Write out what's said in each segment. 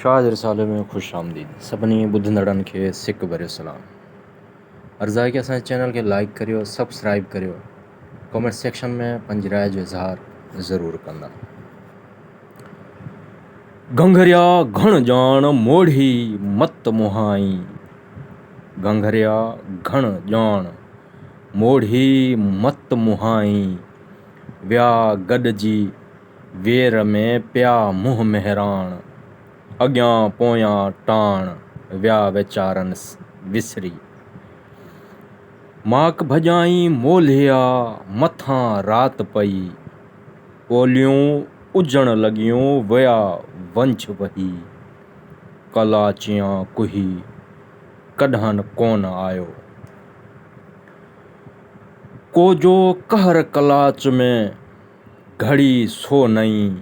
شاهه جي رسالي ۾ خوش آمديد سڀني ٻڌندڙن کي سڪ ڀريو سلام عرض آهي ڪي اسان جي چينل کي لائيڪ ڪريو سب سڪرائيب ڪريو ڪومينٽ سيڪشن ۾ پنهنجي راء جو اظهار ضرور ڪندا گهنگهريا گهڻ ڄاڻ موڙهي مت مهائين گهنگهريا گهڻ ڄاڻ موڙهي مت مهائين ويا گڏجي وير ۾ پيا منهن مهراڻ، اڳيان پويان ٽاڻ ويا ويچارن وسري. ماڪ ڀڄائين مولهيا مٿان رات پئي، پوليون اجهڻ لڳيون ويا ونجهه وهي. ڪلاچيان ڪهي ڪڏهن ڪونه آيو. ڪو جو قهر ڪلاچ ۾. گهڙي سو نئين،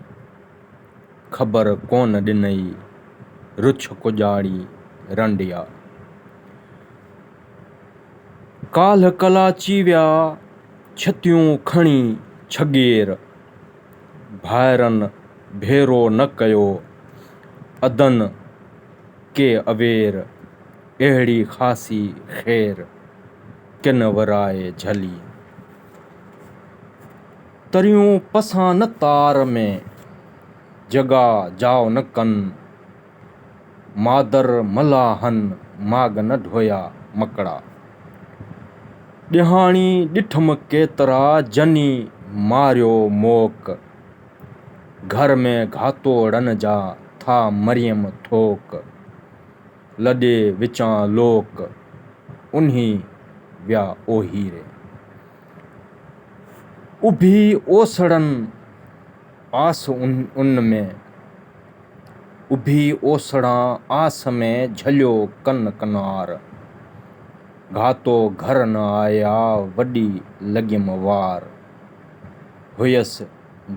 خبر ڪونه ڏنئي، رڇ ڪڄاڙي رنڊيا. ڪالهه ڪلاچي ويا، ڇتيون کڻي ڇڳير. ڀائرن ڀيرو نه ڪيو، ادن ڪي اوير. اهڙي خاصي خير، ڪن ورائي جهلي. تريون پسان نه تار ۾، جڳا جاء نه ڪن، مادر ملاحن ماڳ نه ڍويا مڪڙا. ڏيهاڻي ڏٺم ڪيترا جني ماريو موڪ، گهر ۾ گهاتوڙن جا ٿا مريم ٿوڪ. لڏي وچان لوڪ انهي ويا اوهيري. اڀي اوسڙن آس ان ۾، اڀي اوسڙان آس ۾، جهليو ڪن ڪنار، گهاتو گهر نه آيا، وڏي لڳيم وار، هيس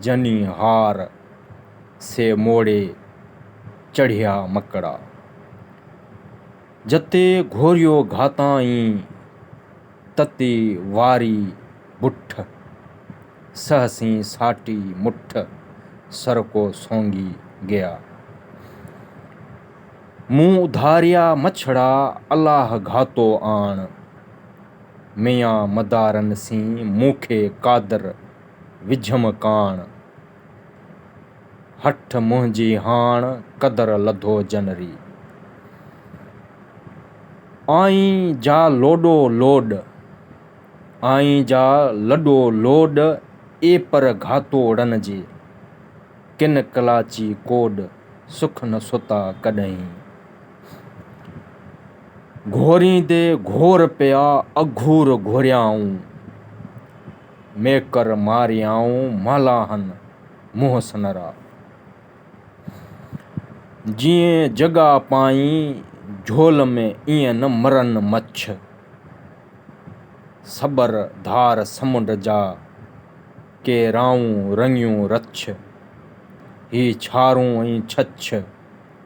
جني هار. سي موڙي چڙهيا مڪڙا. جتي گهوريو گهاتائين، تتي واري بٺ. سهسين ساٽي مٺ، سرڪو سونگي گيا. مون اڌاريا مڇڙا، الاهه گهاتو آڻ. ميان مدارن سين، مون کي قادر. وجهيم ڪاڻ، هٺ منهنجي هاڻ قدر لڌو جنري. آئين جا لوڏو لوڏ، آئين جا لڏو لوڏ اي پر گهاتوڙن جي، ڪن ڪلاچي ڪوڏ سک نه ستا ڪڏهين. گهوريندي گهور پيا اگهور گهوريائون. ميڪر ماريائون ملاحن منهن سنرا. جيئن جڳا پائين جهول ۾ ايئن نه مرن مڇ. سٻر ڌار سمنڊ جا ڪي رائون رڱيون رڇ. هي ڇارون ۽ ڇڇ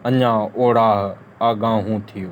اڃا اوڙاهه آڳاهون ٿيو.